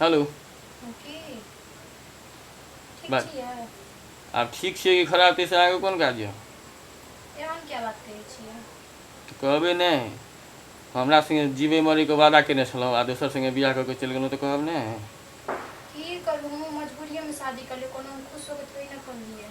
Hello बस आब ठीक छियै कि खराब ताहिसँ आगे कोन काज यऽ तऽ कहबै नहि हमरा सङ्गे जीवे मरैके वादा केने छलहुँ आ दोसर सङ्गे बियाह कऽ के चलि गेलहुँ तऽ कहब नहि की करू मजबूरिएमे शादी करलियै कोनो खुश होके थोड़ी ने करलियै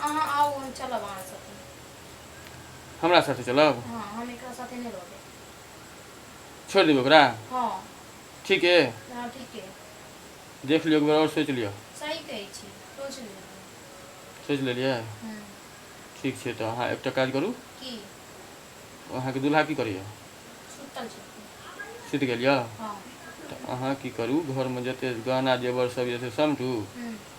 अहाँ आउ हम चलब अहाँ साथे हमरा साथे चलब हँ हम एकरा साथे नहि रहबै छोड़ि देबै ओकरा हँ ठीक है हँ ठीक है देख लियो एक बार और सोच लियो सही कहै छी सोच लियो सोच लेलियै हम्म, ठीक छै तऽ अहाँ एकटा काज करू की अहाँके दूल्हा की करैए सुतल छै सुति गेल यऽ हँ तऽ अहाँ की करू घरमे जते गहना जेवर सब यऽ से समझू हम्म,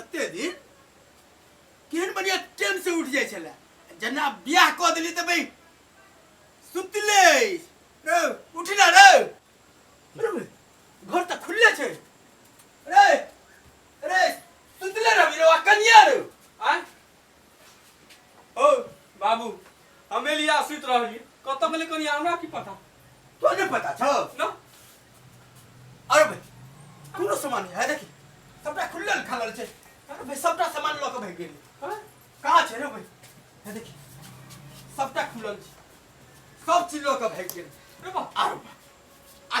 ओते दिन केहन बढ़िया टेम से उठ जाय छले जना बियाह क देली त भाई सुतले रे उठ ना रे रे बे, घर त खुलले छै रे रे सुतले रे बिरवा कनिया रे आ ओ बाबू हम एलिया सुत रहली कत गेले कनी हमरा की पता तो नहीं पता छो ना अरे भाई कोनो सामान है देखी सबटा खुलल खालल छै अरे भाई सबटा सामान लऽ के भाग गेली हाँ? कहाँ छै रे भाई है देखी सबटा खुलल छै सब चीज लऽ के भाग गेली रे बा आरो बा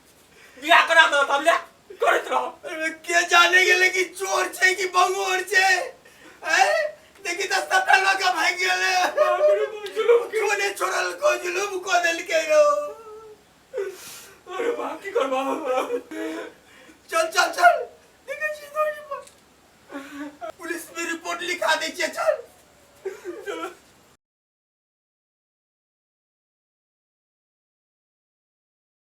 बियाह करा दो हम ले करत रहो अरे के जाने गेले कि चोर छै कि बंगोर छै ए देखि त सबटा लोग भाग गेले जुलुम कोने छोड़ल को जुलुम को देल के रो अरे बाप की करबा चल चल चल देखे छी थोड़ी पर पुलिस में रिपोर्ट लिखा दे छिए चल चलो